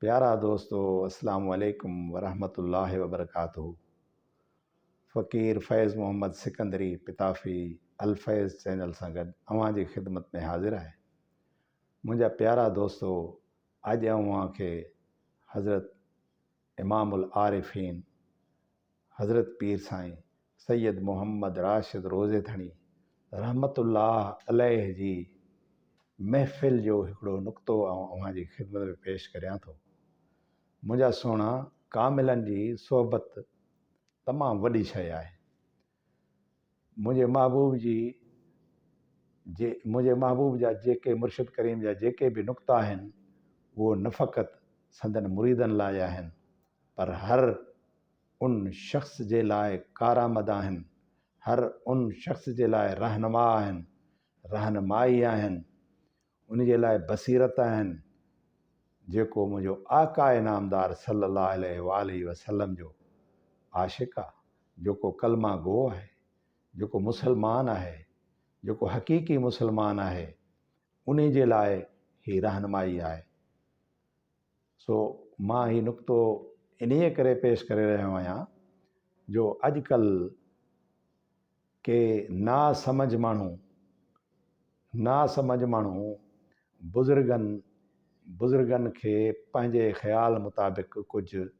پيارا دوستو السلام عليڪم ورحمة الله وبرڪاته فقير فيض محمد سڪندري پتافي الفيض چينل سان گڏ اوهان جي خدمت ۾ حاضر آهي منهنجا پيارا دوستو اڄ اوهان کي حضرت امام العارفين حضرت پير سائين سيد محمد راشد روضيٿڻي رحمة الله عليه جي محفل جو هڪڙو نقطو آئون اوهان جي خدمت ۾ پيش ڪريان ٿو. منهنجا سهڻا ڪاملن جي صحبت تمام وڏي شيء آهي. منهنجي محبوب جي جي منهنجي محبوب جا جيڪي مرشد ڪريم جا جيڪي به نقطا آهن اهو نه فقط سندن مريدن لاء آهن پر هر ان شخص جي لاء ڪارآمد آهن هر ان شخص جي لاء رهنما آهن رهنمائي آهن ان جي لاء بصيرت آهن، جيڪو منهنجو آقا انعامدار صلي الله عليه واٰله وسلم جو عاشق آ، جيڪو ڪلمه گو آهي، جيڪو مسلمان آهي، جيڪو حقيقي مسلمان آهي، انهي جي لاء هي رهنمائي آهي. سو مان هي نقطو انهيء ڪري پيش ڪري رهيو آهيان جو اڄڪلهه ڪي ناسمجهه ماڻهو ناسمجهه ماڻهو بزرگن بزرگن کي پنهنجي خيال مطابق ڪجهه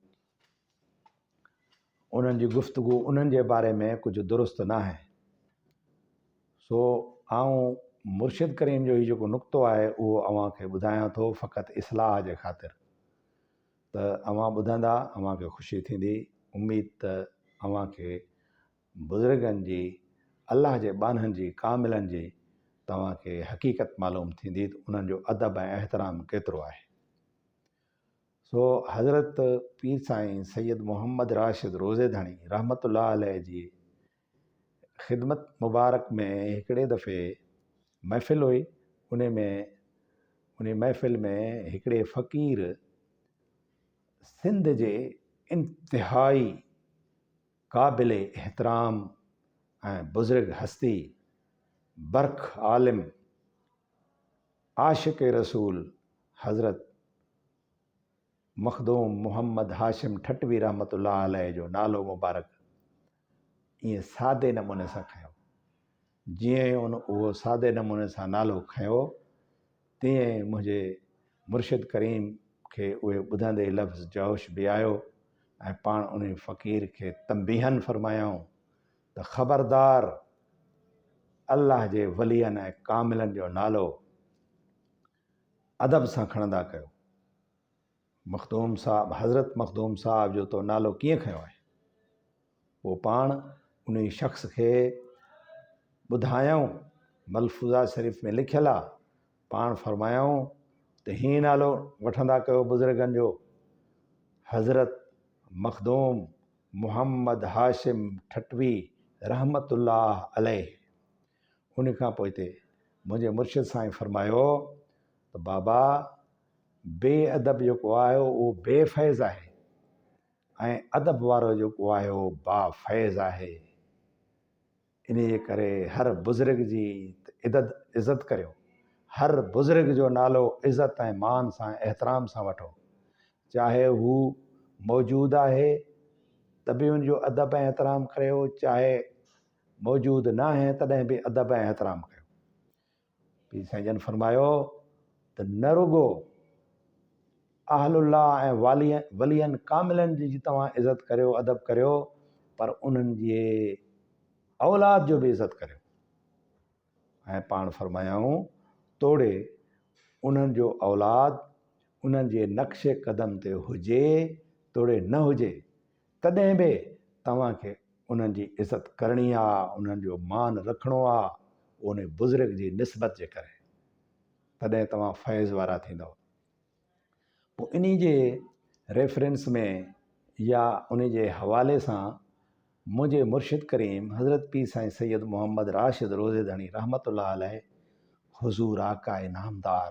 انهن جي گفتگو انهن جي باري ۾ ڪجهه درست نه آهي سو آئون مرشد ڪريم جو هي جيڪو نقطو آهي اهو اوهان کي ٻڌايان ٿو فقط اصلاح جي خاطر ته اوهان ٻڌندا اوهان کي خوشي ٿيندي اميد ته اوهان کي بزرگن جي الله جي ٻانهن جي ڪاملن جي توهان کي حقيقت معلوم ٿيندي ته انهن جو ادب ۽ احترام ڪيترو آهي سو حضرت پير سائين سيد محمد راشد روضي ڌڻي رحمة الله عليه جي خدمت مبارڪ ۾ هڪڙي دفعي محفل هئي انهي ۾ انهي محفل ۾ هڪڙي فقير سنڌ جي انتهائي قابل احترام ۽ بزرگ هستي برک عالم عاشق رسول حضرت مخدوم محمد هاشم ٺٽوي رحمة الله عليه جو نالو مبارڪ ائين سادي نموني سان کنيو. جيئن ئي ان اهو سادي نموني سان نالو کنيو، تيئن ئي منهنجي مرشد ڪريم کي اهي ٻڌندي لفظ جوش به آيو ۽ پاڻ انهي فقير کي تنبيهن فرمايائون ته خبردار الله جي ولين ۽ ڪاملن جو نالو ادب سان کڻندا ڪيو. مخدوم صاحب حضرت مخدوم صاحب جو تو نالو ڪيئن کنيو آهي؟ پوء پاڻ انهي شخص کي ٻڌايائون ملفوظات شريف ۾ لکيل آ پاڻ فرمايائون ته هيئن نالو وٺندا ڪيو بزرگن جو حضرت مخدوم محمد هاشم ٺٽوي رحمة الله عليه ان کان پوئتي منهنجي مرشد سائين فرمايو ته بابا بي ادب جيڪو آهي اهو بي فيض آهي ۽ ادب وارو جيڪو آهي اهو با فيض آهي انهيء ڪري هر بزرگ جي ادد عزت ڪريو، هر بزرگ جو نالو عزت ۽ مان سان احترام سان وٺو، چاهي هو موجود آهي ته به ان جو ادب ۽ احترام ڪريو، چاهي موجود ناهي تڏهن به ادب ۽ احترام ڪريو. پير سائين جن فرمايو ته نه رڳو اهل الله ۽ والي ولين ڪاملن جي جي توهان عزت ڪريو ادب ڪريو پر انهن جي اولاد جو به عزت ڪريو ۽ پاڻ فرمايائون توڙي انهن جو اولاد انهن جي نقش قدم تي هجي توڙي نه هجي تڏهن به توهان کي انهن جي عزت ڪرڻي آ، انهن جو مان رکڻو آ، اونهي بزرگ جي نسبت جي ڪري. تڏهن توهان فيض وارا ٿيندؤ. پوء انهي جي ريفرنس ۾ يا انهي جي حوالي سان منهنجي مرشد ڪريم حضرت پير سائين سيد محمد راشد روضي ڌڻي رحمة الله عليه حضور آقاء نامدار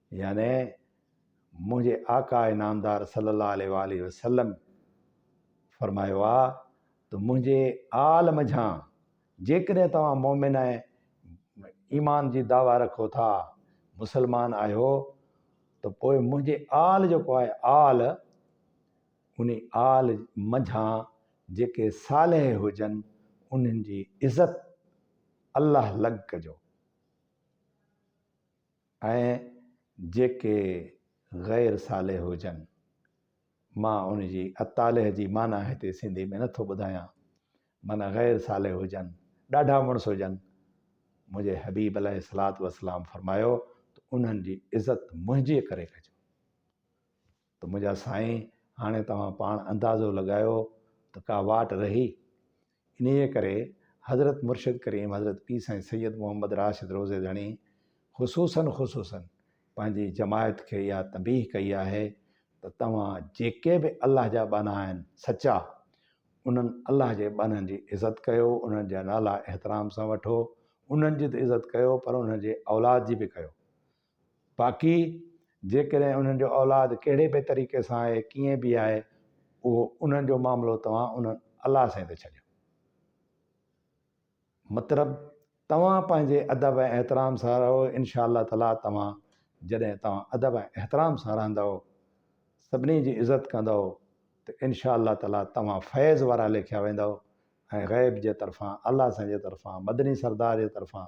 يعني منهنجي آقا نامدار صلّي الله عليه واٰله وسلّم فرمايو آ ته منهنجي آل منجهان جيڪڏهن توهان مؤمن ۽ ايمان جي دعويٰ رکو ٿا، مسلمان آهيو، ته پوء منهنجي آل جيڪو آهي آل انهي آل منجهان جيڪي صالح هجن انهن جي عزت الله لڳ ڪجو. ۽ جيڪي غير صالح هجن. مان ان جي الطالح جي معنيٰ هتي سنڌي ۾ نه ٿو ٻڌايان. معنيٰ غير صالح هجن، ڏاڍا مڙس هجن. منهنجي حبيب عليه الصلوة والسلام فرمايو ته انهن جي عزت منهنجي ڪري ڪجو. ته منهنجا سائين هاڻي توهان پاڻ اندازو لڳايو ته ڪا واٽ رهي؟ انهيء ڪري حضرت مرشد ڪريم حضرت پير سائين سيد محمد راشد روضي ڌڻي خصوصاً خصوصاً پنهنجي جماعت کي اها تنبيهه ڪئي آهي ته توهان جيڪي به الله جا ٻانها آهن سچا انهن الله جي ٻانهن جي عزت ڪيو انهن جا نالا احترام سان وٺو انهن جي ته عزت ڪيو پر انهن جي اولاد جي به ڪيو باقي جيڪڏهن انهن جو اولاد ڪهڙي به طريقي سان آهي ڪيئن به آهي اهو انهن جو معاملو توهان انهن الله سائين تي ڇڏيو. مطلب توهان پنهنجي ادب ۽ احترام سان رهو انشاء الله تعالي توهان جڏهن توهان ادب ۽ احترام سان رهندؤ سڀني جي عزت ڪندؤ ته انشاء الله تعالي توهان فيض وارا ليکيا ويندؤ ۽ غيب جي طرفان الله سائين جي طرفان مدني سردار جي طرفان